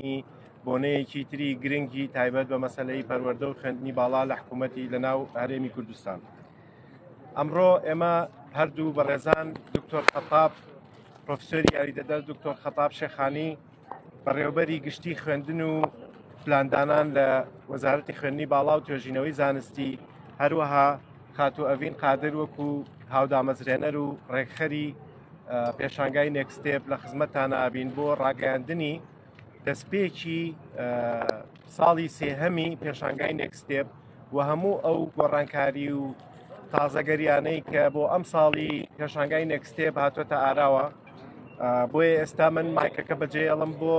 دانانی بۆنەیەکی تری گرنگی تایبەت بە مەسلەی پەروەەردە و خوێندنی باڵا لە حکوومەتی لە ناو هەرێمی کوردستان ئەمڕۆ ئێمە هەردوو بەڕێزان دکتۆر خەتاب پرۆفسۆری یاریدەدەر دکتۆر خەتاب شێخانی بەڕێوبەری گشتی خوێندن و پلاندانان لە وەزارەتی خوێندنی باڵا و توێژینەوەی زانستی هەروەها خاتو ئەڤین قادر وەکو هاودامەزرێنەر و ڕێکخەری پێشانگای نێکستێپ لە خزمەتتانە ئابین بۆ ڕاگەاندنی دەستپێکی ساڵی سێهەمی پێشانگای نێکستێپ و هەموو ئەو گۆڕانکاری و تازەگەریانەی کە بۆ ئەم ساڵی پێشانگای نێکستێپ هاتوۆتە ئاراوە بۆیە ئێستا من مایکەکە بەجێ ئەڵم بۆ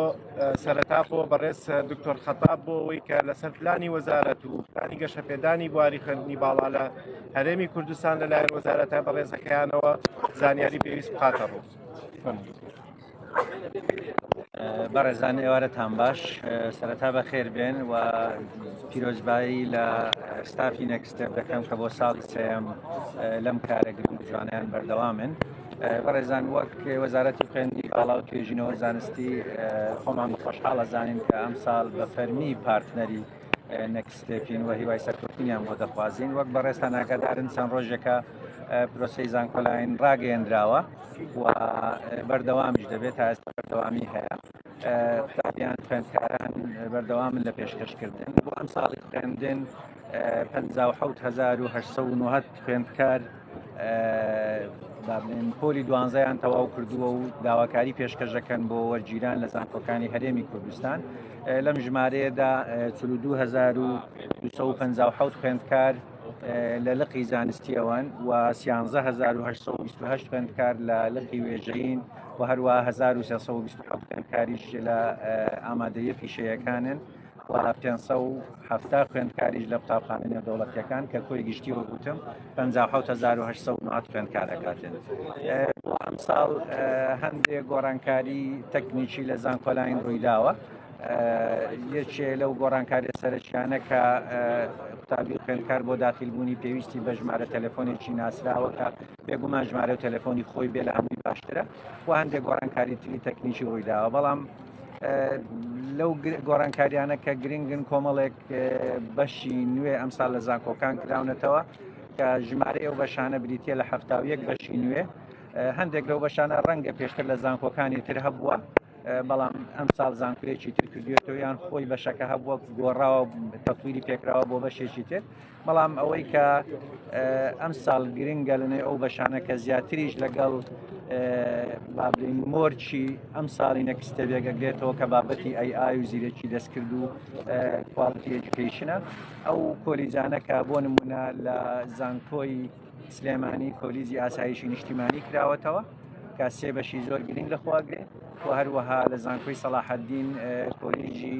سەرەتا بۆ بەڕێز دکتۆر خەتاب بۆ ئەوەی کە لەسەر پلانی وەزارەت و پلانی گەشەپێدانی بواری خوێندنی باڵا لە هەرێمی کوردستان لەلایەن وەزارەتە بەڕێزەکەیانەوە زانیاری پێویست بخاتە ڕوو. بەڕێزان ئێوارەتان باش سەرەتا بە خێر بێن و پیرۆزبایی لە ستافی نەکستێپ دەکەم کە بۆ ساڵی سم لەم کارە گرنگ جوانیان بەردەوامن. بەڕێزان وەک وەزارەتی خوێندی باڵا و توێژینەوە زانستی خۆمان خۆشحاڵە زانین کە ئەم ساڵ بە فەرمی پارتنەری نێکست ستێپین و هیوای سەرکەوتنیان بۆ دەخوازین وەک بەڕێستان ئاگادارن چەند ڕۆژێکە پرۆسی زانکۆلاین ڕاگەیەنراوە و بەردەوامیش دەبێت تا ئێستا بەردەوامی هەیە قوتابیان خوێندکاران بەردەوامن لە پێشکەشکردن بۆ ئەم ساڵی خوێندن 1970 خوێندکار بابلێن پۆلی دوانزەیان تەواو کردووە و داواکاری پێشکەشەکەن بۆ وەرگیران لە زانکۆکانی هەرێمی کوردستان لەم ژمارەیەدا 2250 خوێندکار لە لقی زانستی ئەوان و 1970 خوێندکار لە لقی وێژەین و هەروە 1920 خوێندکاریش لە ئامادەیە پیشەیەکانن. و پێنج سەد و حەفتا خوێندکاریش لە قوتابخانە نێودەوڵەتیەکان کە کۆی گشتی وەگوتم پ هزار و هەشت سەد نات خوێندکار ئەکاتێن بۆ ئەمساڵ هەندێک گۆڕانکاری تەکنیکی لە زانکۆلاین ڕوویداوە یەکێ لەو گۆڕانکاری سەرچیانە کە قوتابی خوێندکار بۆ داخیلبوونی پێویستی بە ژمارە تەلەفۆنێکی ناسراوەکە بێگومان ژمارە و تەلەفۆنی خۆی بێ لە هەمووی باشترە و هەندێک گۆڕانکاری تری تەکنیکی ڕوویداوە بەڵام لەو گۆڕانکاریانە کە گرنگن کۆمەڵێک بەشی نوێ ئەمسا لە زانکۆکان کراونەتەوە کە ژمارە ئەو بەشانە بریتە لە هەفتا و یەک بەشی نوێ هەندێک لەو بەشانە ڕەنگە پێشتر لە زانکۆکانی تر هەبووە بەڵام ئەم ساڵ زانکوێکی تر کردوێتەوە یان خۆی بەشەکە هەبووە گۆڕاوە تەپویری پێکراوە بۆ بەشێکی تر بەڵام ئەوەی کە ئەم ساڵ گرنگە لەنێ ئەو بەشانە کە زیاتریش لەگەڵ بابلین مۆرچی ئەم ساڵی نەکستە بێگەگرێتەوە کە بابەتی ئەی ئای و زیرەکی دەستکرد و کوالتی ئەجوکیشنە ئەو کۆلیجانەکە بۆ نمونە لە زانکۆی سلێمانی کۆلیزی ئاسایشی نیشتیمانی کراوەتەوە کە سێ بەشی زۆر گرنگ لەخواگرێت و هەروەها لە زانکۆی سەلاحەدین کۆلیژی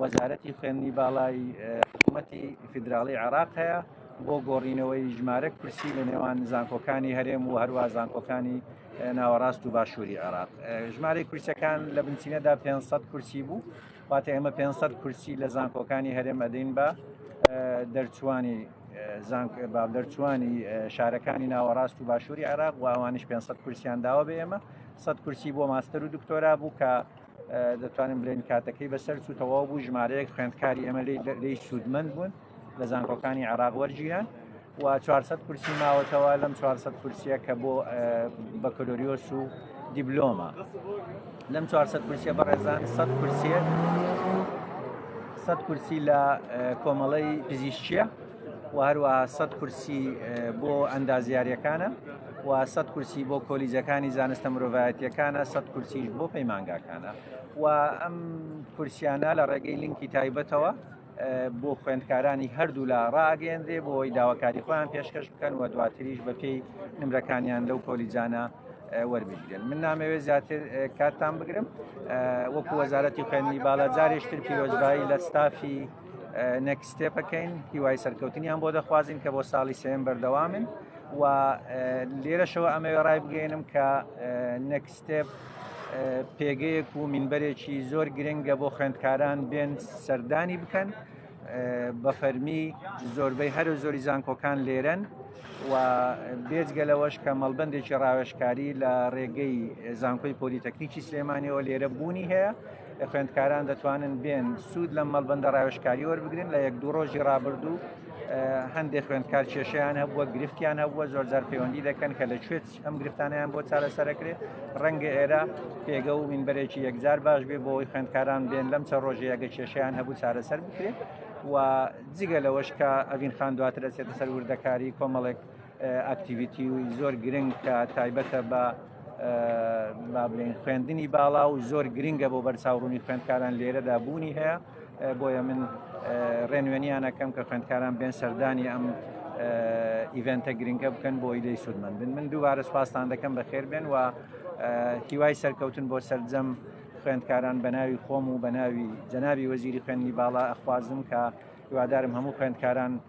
وەزارەتی خوێندنی باڵای حکوومەتی فیدراڵی عێراق هەیە بۆ گۆڕینەوەی ژمارەک کورسی لە نێوان زانکۆکانی هەرێم و هەروە زانکۆکانی ناوەڕاست و باشووری عێراق ژمارەی کورسەکان لە بنچینەدا 500 کورسی بوو واتە ئێمە 500 کورسی لە زانکۆکانی هەرێم ئەدەین بە دەرچوانی با دەرچوانی شارەکانی ناوەڕاست و باشووری عێراق و ئەوانش 500 کورسیان داوە بە ئێمە 100 کورسی بۆ ماستەر و دکتۆرا بوو کە دەتوانین بلێن کاتەکەی بەسەر سو تەواو بوو ژمارەیەک خوێندکاری ئەمە لی سوودمەند بوون لە زانکۆکانی عراق وەرگیران و 400 کورسی ماوەتەوە لەم 400 کورسیە کە بۆ بەکلۆریۆس و دیبلۆمە لەم 400 کورسیە بەڕێزان 100 کورسیە 100 کورسی لە کۆمەڵەی پزیشچیە و هەروەها سەد کورسی بۆ ئەندازیاریەکانە و سەد کورسی بۆ کۆلیجەکانی زانستە مرۆڤایەتیەکانە سەد کورسیش بۆ پەیمانگاکانە و ئەم کورسیانە لە ڕێگەی لینکی تایبەتەوە بۆ خوێندکارانی هەردوو لە ڕاگەێنرێ بۆی داواکاری خۆیان پێشکەش بکەن و دواتریش بە پێی نمرەکانیان لەو کۆلیجانە وەربگرن من نامەوێت زیاتر کاتتان بگرم وەکو وەزارەتی خوێنی باڵا جارێشتر پیرۆزبایی لە ستافی نەکسستێپەکەین هیوای سەرکەوتنیان بۆ دەخوازین کە بۆ ساڵی سێن بەردەوامن و لێرەشەوە ئەمەوێ ڕای بگەێنم کە نەکسستێپ پێگەیەک و مینبەرێکی زۆر گرنگە بۆ خوێندکاران بێن سەردانی بکەن بە فەرمی زۆربەی هەرو زۆری زانکۆکان لێرەن و بێجگە لەوەش کە مەڵبندێکی ڕاوێشکاری لە ڕێگەی زانکۆی پۆلیتەکنیکی سلێمانیەوە لێرە بوونی هەیە خوێندکاران دەتوانن بێن سوود لەم مەڵبندە ڕاوێشکاری وەربگرن لە یەک دوو ڕۆژی ڕابردوو هەندێک خوێندکار کێشیان هەبووە گرفتیان هەبووە زۆرجار پەیوەندی دەکەن کە لە کوێت ئەم گرفتانیان بۆ چارەسەرەکرێت ڕەنگە ئێرە پێگە و مینبەرێکی یەکجار باش بێ بۆی خوێندکاران بێن لەم چە ڕۆژەیەگە کێشیان هەبوو چارەسەر بکرێت و جگە لەوەش کە ئەڤین خان دواتر دەچێتە سەر وردەکاری کۆمەڵێک ئاکتیویتی و زۆر گرنگ کە تایبەتە بە بابلین خوێندنی باڵا و زۆر گرنگە بۆ بەرچاوڕوونی خوێندکاران لێرەدا بوونی هەیە بۆیە من ڕێنوێنیانەکەم کە خوێندکاران بێن سەردانی ئەم ئیڤنتە گرنگە بکەن بۆ ئیدەی سوودمەند بن من دووبارە سپاستان دەکەم بە خێر بێن و هیوای سەرکەوتن بۆ سرجەم خوێندکاران بە ناوی خۆم و بە ناوی جەناوی وەزیری خوێنی باڵا ئەخوازم کە هیوادارم هەموو خوێندکاران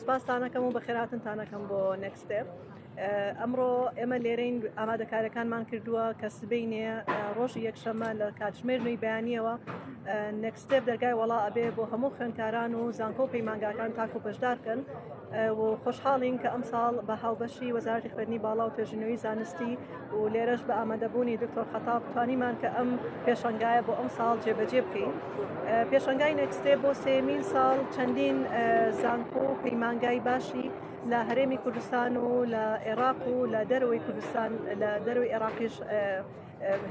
سپاستانەکەم و بەخێراتنتانەکەم بۆ نەکسستێپ ئەمڕۆ ئێمە لێرەین ئامادەکارەکانمان کردووە کە سبینێ ڕۆژی یەکشەمە لە کاتژمێر نوی بەیانیەوە نەکسستێپ دەرگای وڵا ئەبێ بۆ هەموو خوێنکاران و زانکۆ و پەیمانگاکان تاکو بەشدارکەن و خۆشحاڵین کە ئەمساڵ بە هاوبەشی وەزارتی خوێنی باڵا و توێژنەوەی زانستی و لێرەش بە ئامادەبوونی دکتۆر خەتاب توانیمان کە ئەم پێشنگایە بۆ ئەم ساڵ جێبەجێ بکەین پێشنگای نەکسێ بۆ سێمین ساڵ چەندین زانکۆ و پەیمانگای باشی لە هەرێمی کوردستان و لە عێراق و لە دەرەوەی کوردستان لە دەروی عێراقیش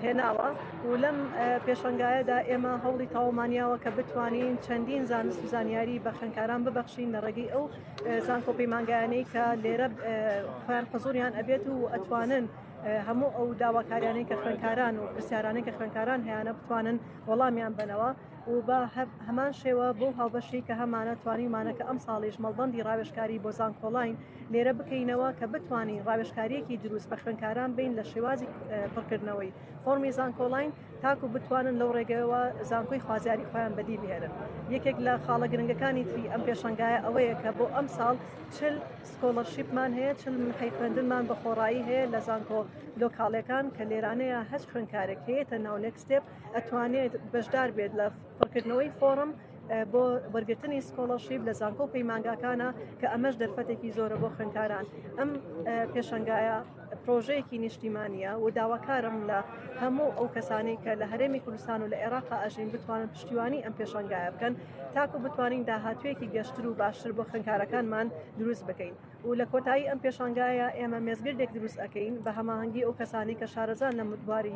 هێناوە و لەم پێشنگایەدا ئێمە هەوڵی تاومانیاوە کە بتوانین چەندین زانست و زانیاری بە خوێنکاران ببەخشین لە ڕێگەی ئەو زانکۆ پەیمانگایانەی کە لێرە خۆیان حزوریان ئەبێت و ئەتوانن هەموو ئەو داواکاریانەی کە خوێنکاران و پرسیارانەی کە خوێنکاران هەیەە بتوانن وەڵامیان بنەوە و بە هەمان شێوە بۆ هاوبەشی کە هەمانە توانیمانە کە ئەم ساڵیش مەڵبندی ڕاوێشکاری بۆ زانکۆڵین لێرە بکەینەوە کە بتانی ڕاوێشکاریەکی دروست بە خوێنکاران بین لە شێوازی پڕکردنەوەی فۆرمی زانکۆڵین تاکو بتوانن لەو ڕێگەوە زانکۆی خوازیاری خۆیان بەدی بهێنن یەکێک لە خاڵە گرنگەکانی تری ئەم پێشنگایە ئەوەیە کە بۆ ئەم ساڵ چل سکۆڵەرشیپمان هەیە چل محی خوێندنمان بە خۆڕایی هەیە لە زانکۆ لۆکاڵەکان کە لێرانەیە هەست خوێندکارێک هەیەتە ناو نێکستێپ ئەتوانێت بەشدار بێت لە پڕکردنەوەی فۆرم بۆ وەرگرتنی سکۆڵەشیب لە زانکۆ پەیمانگاکانە کە ئەمەش دەرفەتێکی زۆرە بۆ خوێندکاران ئەم پێشنگایە پرۆژەیەکی نیشتیمانیە و داواکارم لە هەموو ئەو کەسانی کە لە هەرێمی کوردستان و لە عێراق ئەژین بتوانن پشتیوانی ئەم پێشنگایە بکەن تاکو بتوانین داهاتوێکی گەشتر و باشتر بۆ خوێنکارەکانمان دروست بکەین و لە کۆتایی ئەم پێشنگایە ئێمە مێزگردێک دروست ئەەکەین بە هەماهنگگی ئەو کەسانی کە شارەزان لە مدواری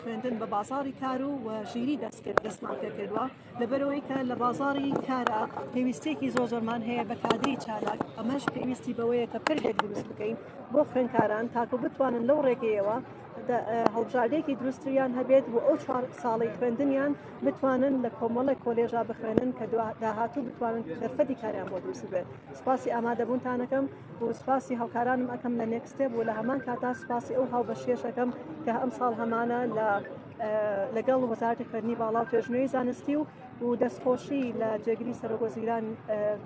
خوێندن بە بازاری کار و و ژیری دەستکرد دەستمان پێ کردووە لەبەرەوەی کە لە بازاری کارە پێویستێکی زۆر زۆرمان هەیە بە کادری چالاک ئەمەش پێویستی بەوەیە کە پردێک دروست بکەین بۆ خوێنکاران تاکو بتوانن لەو ڕێگەیەوە هەڵبژاردێکی دروستیان هەبێت و ئەو چوار ساڵی خوێندنیان بتوانن لە کۆمەڵە کۆلێژا بخوێنن کە داهاتوو بتوانن دەرفەتی کاریان بۆ دروست بێت سپاسی ئامادەبوونتانەکەم و سپاسی هاوکارانم ئەکەم لە نێکستێب و لە هەمان کاتا سپاسی ئەو هاوبەشێشەکەم کە ئەم ساڵ هەمانە لە لەگەڵ وەزارتی خوێندنی باڵا و توێژنوێی زانستی و و دەستخۆشی لە جێگری سەرۆکۆزیران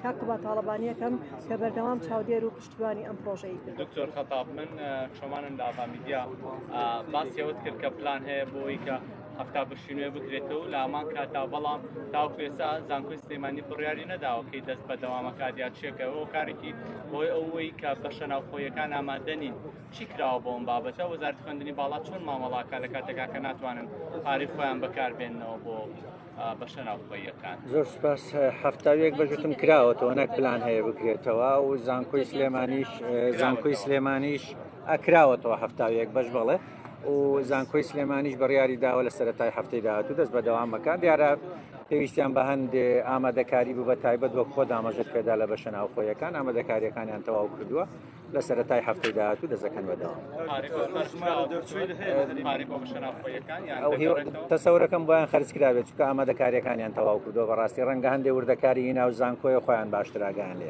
کاکوبا تاڵەبانیەکەم کە بەردەوام چاودێر و پشتیوانی ئەم پرۆژەی دکتۆر خەتاب من شمانم لە ئاڤا میدیا باسیەوەت کرد کە پلان هەیە بۆی کە هەفتا بەشی نوێ بکرێتەوە لە هەمان کاتا بەڵام تاوکو ئێستا زانکۆی سلێمانی بڕیاری نەداوەکەی دەست بە دەوامەکات یا چێکەوە کارێکی بۆی ئەوەی کە بەشە ناوخۆیەکان ئامادە نین چی کراوە بۆم بابەتە وەزارت خوێندنی باڵا چۆن مامەڵاکە لە کاتێکا کە ناتوانن پارەی خۆیان بەکاربێنەوە بۆ بەشە ناوخۆیەکان زۆر سپاس هەفتاویەک بەژتم کراوەتەوە نەک پلان هەیە بکرێتەوە و زانکۆی سلێمانیش زانکۆی سلێمانیش ئەکراوەتەوە هەفتاویەک بەش بڵێ و زانکۆی سلێمانیش بڕیاری داوە لە سەرەتای هەفتەی داهاتوو دەست بەدەوام بەکان دیارە پێویستیان بە هەندێ ئامادەکاری بوو بە تایبەت وەک خۆ دامەزت پێدا لە بەشە ناوخۆیەکان ئامادەکاریەکانیان تەواو کردووە لە سەرەتای هەفتەی داهاتوو دەزەکەن بەدەوام تەسەورەکەم بۆیان خەرجکراوێت چکە ئامادەکاریەکانیان تەواو کردووە بەڕاستی ڕەنگە هەندێ وردەکاری ناو زانکۆیە خۆیان باشتراگەیان لێ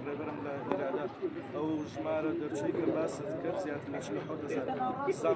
ڕێبەرم لە ئیرادە ئەو ژمارە دەرچووی کە باست کرد زیاتر لە چل و حەوت هەزار